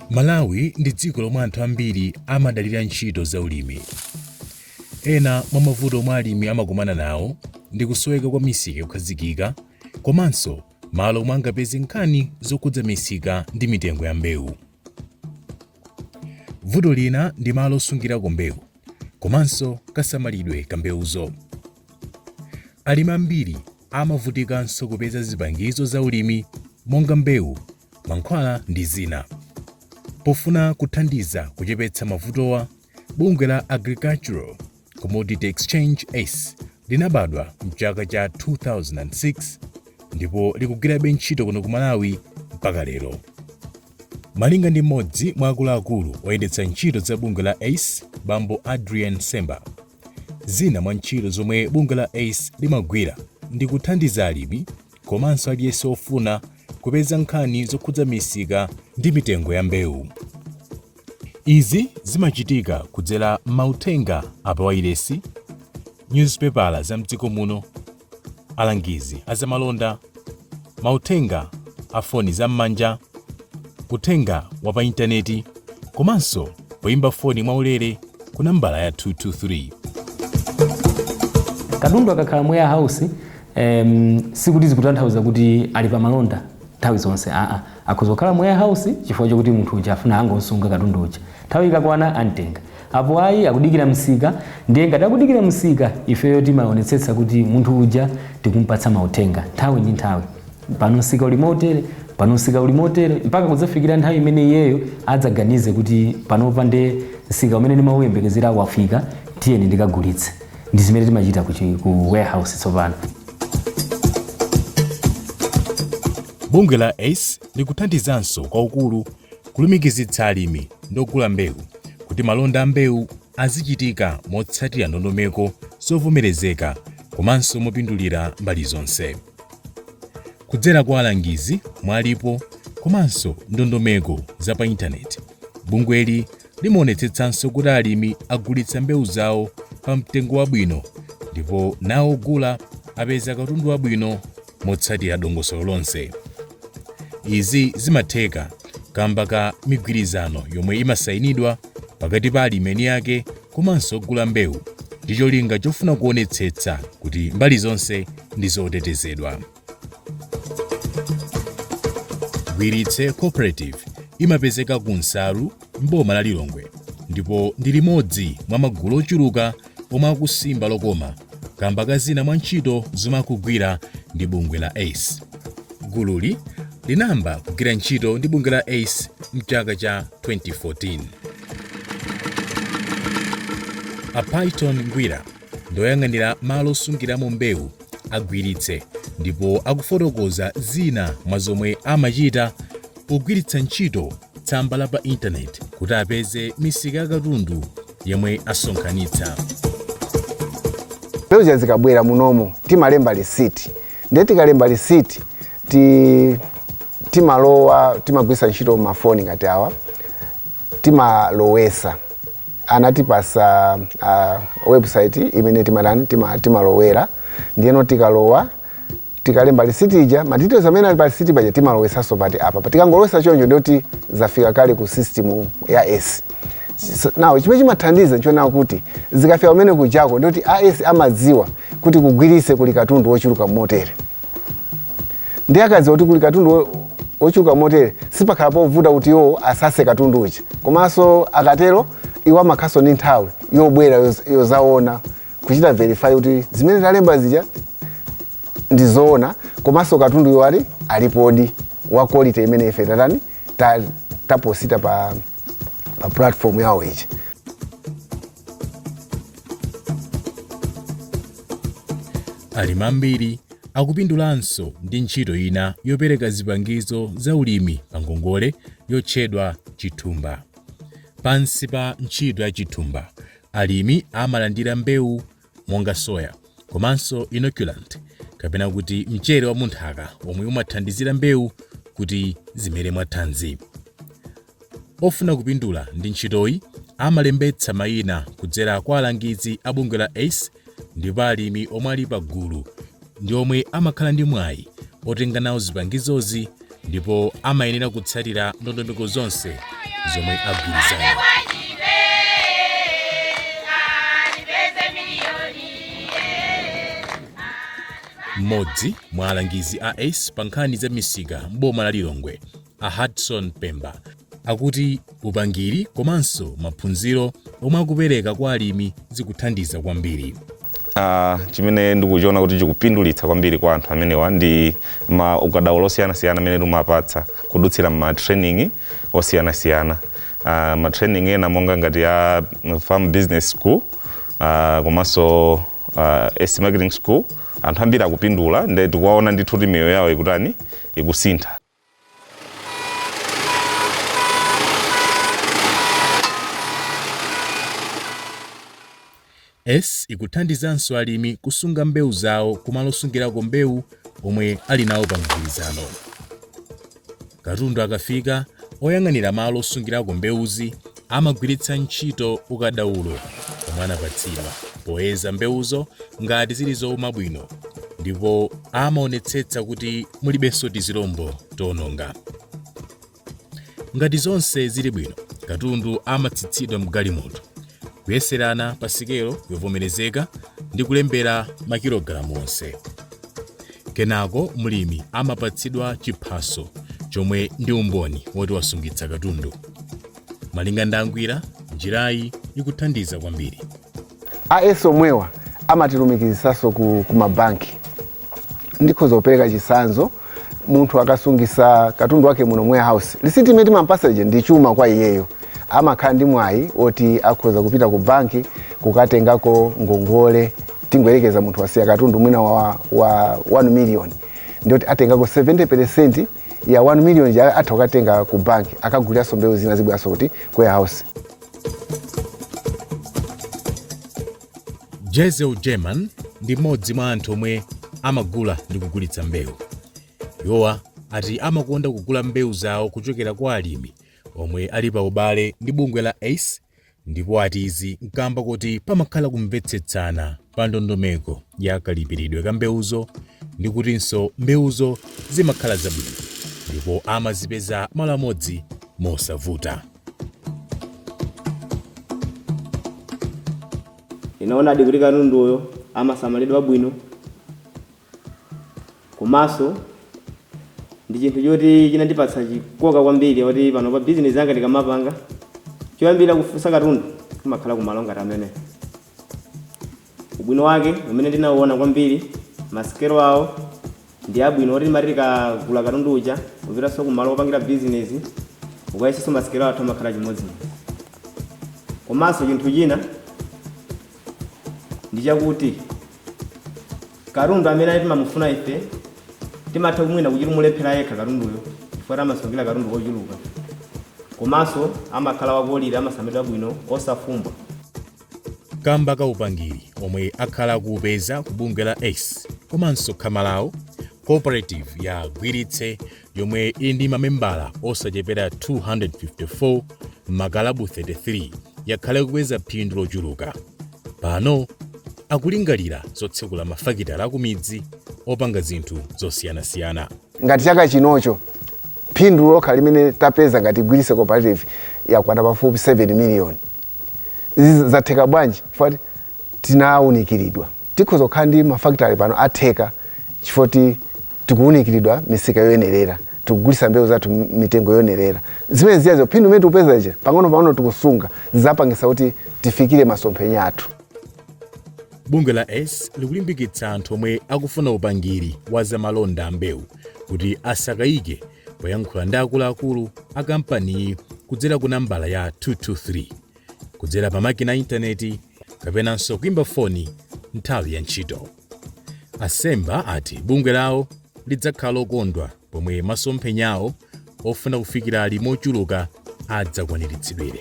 malawi ndi dziko lomwe anthu ambiri amadalira ntchito za ulimi ena mwa mavuto omwe alimi amakumana nawo ndi kusoweka kwa misika yokhazikika komanso malo omwe angapeze nkhani zokhudza misika ndi mitengo ya mbewu Vuto lina ndi malo osungirako mbewu komanso kasamalidwe ka mbewuzo. Alimi ambiri amavutikanso kupeza zipangizo za ulimi monga mbewu, mankhwala ndi zina. Pofuna kuthandiza kuchepetsa mavutowa, bungwe la Agricultural Commodity Exchange ACE linabadwa mchaka cha 2006 ndipo likugwirabe ntchito kuno ku Malawi mpaka lero. Malinga ndi mmodzi mwa akuluakulu oyendetsa ntchito za bungwe la ACE, Bambo Adrian Semba, zina mwa ntchito zomwe bungwe la ACE limagwira ndi kuthandiza alimi komanso aliyense wofuna kupeza nkhani zokhudza misika ndi mitengo ya mbewu. Izi zimachitika kudzera mauthenga a pawailesi, nyuzipepala za m'dziko muno, alangizi a zamalonda, mauthenga a foni zam'manja, uthenga wa pa intaneti komanso poimba foni mwaulere ku nambala ya 223. Katundu akakhala mu warehouse um, sikuti zikutanthauza kuti ali pa malonda nthawi zonse aa akhoza kukhala mu warehouse chifukwa chokuti munthu uja afuna angosunga katundu uja nthawi ikakwana amtenga apo ayi akudikira msika ndiye ngati akudikira msika ifeyo timaonetsetsa kuti munthu uja tikumpatsa mauthenga nthawi ndi nthawi pano msika uli motere pano msika uli motere mpaka kudzafikira nthawi imene iyeyo adzaganize kuti panopa nde msika umene ndimauyembekezera wafika tiyeni ndikagulitse ndi zimene timachita ku chi- ku warehouse tsopano bungwe la ace likuthandizanso kwaukulu kulumikizitsa alimi ndi ogula mbewu kuti malonda a mbewu azichitika motsatira ndondomeko zovomerezeka komanso mopindulira mbali zonse kudzera kwa alangizi mwalipo komanso ndondomeko za pa intaneti bungweli Limaonetsetsanso kuti alimi agulitsa mbewu zawo pa mtengo wabwino ndipo nawo ogula apeza katundu wabwino motsatira dongosolo lonse. Izi zimatheka kamba ka migwirizano yomwe imasayinidwa pakati pa alimi eni ake komanso ogula mbewu ndi cholinga chofuna kuonetsetsa kuti mbali zonse ndi zotetezedwa. Gwiritse Cooperative imapezeka ku Nsalu m'boma la Lilongwe ndipo ndi limodzi mwa magulu ochuluka omwe akusimba lokoma kamba ka zina mwa ntchito zomwe akugwira ndi bungwe la ACE. Gululi linayamba kugwira ntchito ndi bungwe la ACE mchaka cha 2014. A Python Ngwira ndi oyang'anira malo osungiramo mbewu a Gwiritse ndipo akufotokoza zina mwa zomwe amachita pogwiritsa ntchito tsamba la pa intaneti kuti apeze misika ya katundu yomwe asonkhanitsa. Mbewu zikabwera munomo timalemba lisiti ndiye tikalemba lisiti timalowa timagwiritsa ntchito mafoni ngati awa timalowesa anatipasa uh, website imene timatani tima, timalowera ndiyeno tikalowa tikalemba lisiti ija ma details amene ali pa lisiti paja timalowesanso pati apa Pa- tikangolowesa choncho ndiyoti zafika kale ku system ya ACE now chimene chimathandiza nchonena kuti zikafika kumene kujako ndiyoti ACE amadziwa kuti ku Gwirise kuli katundu wochuluka motere ndiye akadziwa kuti kuli katundu wo- wochuluka motere sipakhala povuta kuti iwo asase katundu uja komanso akatero iwo amakhalaso ndi nthawi yobwera yoz- yozaona kuchita verify kuti zimene talemba zija ndi zoona komanso katundu uyo ali alipodi wa quality imene ife tatani ta- taposita pa, pa platform yawo ija alimi ambiri akupindulanso ndi ntchito ina yopereka zipangizo za ulimi pa ngongole yotchedwa chithumba pansi pa ntchito ya chithumba alimi amalandira mbewu monga soya komanso inoculant kapena kuti mchere wa munthaka omwe umathandizira mbewu kuti zimere mwathanzi Ofuna kupindula ndi ntchitoyi amalembetsa mayina kudzera kwa alangizi a bungwe la ACE ndipo alimi omwe ali pagulu ndi omwe amakhala ndi mwayi otenga nawo zipangizozi ndipo amayenera kutsatira ndondomeko zonse zomwe agwirizana. Mmodzi mwa alangizi a ACE pa nkhani za misika m'boma la Lilongwe, A Hudson Pemba akuti upangiri komanso maphunziro omwe akupereka kwa alimi zikuthandiza kwambiri. Uh, chimene ndikuchiona kuti chikupindulitsa kwambiri kwa anthu amenewa ndi ma ukadaulo osiyanasiyana amene timapatsa kudutsira ma training osiyanasiyana uh, ma training ena monga ngati ya farm business school uh, komanso uh, ACE marketing school anthu ambiri akupindula nde tikuwaona ndithu kuti miyoyo yawo ikutani ikusintha ACE ikuthandizanso alimi kusunga mbewu zawo kumalo osungirako mbewu omwe ali nawo pa mgwirizano. Katundu akafika, oyang'anira malo osungirako mbewuzi Amagwiritsa ntchito ukadaulo omwe anapatsidwa poyeza mbewuzo ngati zili zouma bwino ndipo amaonetsetsa kuti mulibenso tizilombo toononga. Ngati zonse zili bwino, katundu amatsitsidwa m'galimoto, kuyeserana pa sikelo yovomerezeka ndi kulembera makilogalamu onse. Kenako mlimi amapatsidwa chiphaso chomwe ndi umboni woti wasungitsa katundu. Malinga ndi a Ngwira, njirayi ikuthandiza kwambiri. A ACE omwewa amatilumikizisaso ku ku ma bank ndikhoza kupereka chisanzo munthu akasungisa katundu wake muno mu warehouse lisiti imene timampasa ija ndi chuma kwa iyeyo amakhala ndi mwayi oti akhoza kupita ku banki kukatengako ngongole tingoyerekeza munthu wasiya katundu mwina wa, wa 1 million ndiyoti atengako 70 percent ya 1 million ja atha kukatenga ku bank akaguliranso mbewu zina zibweranso kuti ku warehouse jezel german ndi mmodzi mwa anthu omwe amagula ndi kugulitsa mbewu iwowa ati amakonda kugula mbewu zawo kuchokera kwa alimi omwe ali pa ubale ndi bungwe la ace ndipo ati izi n'kaamba kuti pamakhala kumvetsetsana pa ndondomeko ya kalipiridwe ka mbewuzo ndi kutinso mbewuzo zimakhala zabwino ndipo amazipeza malo amodzi mosavuta. Tinaonadi kuti katunduyo amasamalidwa bwino. Komanso ndi chinthu choti chinandipatsa chikoka kwambiri kuti panopa bizinesi yanga ndikamapanga, choyambirira kufunsa katundu kumakhala kumalo ngati amenewa. Ubwino wake umene ndinauona kwambiri, masikelo awo ndi abwino oti timati tikagula katundu uja kupitanso kumalo opangira bizinesi ukayesenso masikelo athu amakhala chimodzimodzi. Komanso chinthu china. ndi chakuti katundu amene ali timamufuna ife timatha kumwina kuchita kumulephera yekha katunduyo chifukwa amasungira katundu kochuluka komanso amakhala wa quality amasamalidwa bwino osafumbwa kamba ka upangiri omwe akhala akuupeza ku bungwe la ace komanso khama lawo cooperative ya gwiritse yomwe ili ndi mamembala osachepera 254 m'makalabu 33, yakhala ikupeza phindu lochuluka. Pano akulingalira zotsekula mafakitale akumidzi opanga zinthu zosiyanasiyana. Ngati chaka chinocho phindu lokha limene tapeza ngati Gwiritse Cooperative yakwana pafupi 7 miliyoni. Izi zatheka bwanji? tinaunikiridwa tikhoza kukhala ndi mafakitale pano atheka chifukwa choti tikuunikiridwa misika yoyenerera tikugulisa mbewu zathu m- mitengo yoyenerera zimene ziyazo phindu imene tikupeza ija pang'ono pang'ono tikusunga zizapangisa kuti tifikire masomphenya athu bungwe la ACE likulimbikitsa anthu omwe akufuna upangiri wa zamalonda a mbewu kuti asakayike poyankhula ndi akuluakulu a kampaniyi kudzera ku nambala ya 223 kudzera pa makina a intaneti kapenanso kuimba foni nthawi ya ntchito. A Semba ati bungwe lawo lidzakhala lokondwa pomwe masomphenya awo ofuna kufikira alimi ochuluka adzakwaniritsidwire.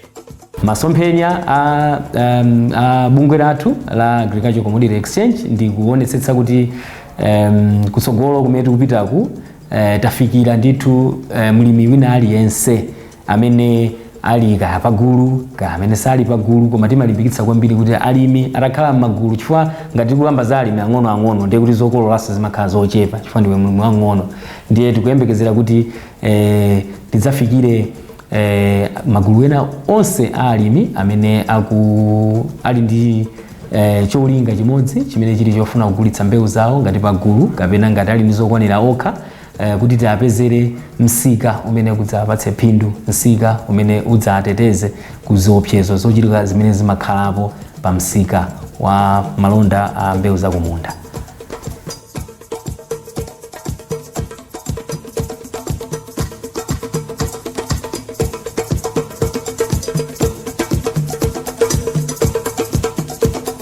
Masomphenya a, um, a bungwe lathu la Agricultural Commodity Exchange ndi kuonetsetsa kuti um, kutsogolo kumene tikupitaku eh, tafikira ndithu eh, mlimi wina aliyense amene ali kaya pagulu kaya amene sali pagulu koma timalimbikitsa kwambiri kuti alimi atakhala m'magulu chifukwa ngati tikukamba za alimi ang'onoang'ono ndiye kuti zokololanso zimakhala zochepa chifukwa ndiwe mlimi wang'ono ndiye tikuyembekezera kuti eh, tidzafikire eh, magulu ena onse a alimi amene aku ali ndi eh, cholinga chimodzi chimene chili chofuna kugulitsa mbewu zawo ngati pagulu kapena ngati ali ndi zokwanira okha eh, kuti tiapezere msika umene udzapatse phindu msika umene udzateteze ku ziopsezo zochitika zimene zimakhalapo pa msika wa malonda a mbewu zakumunda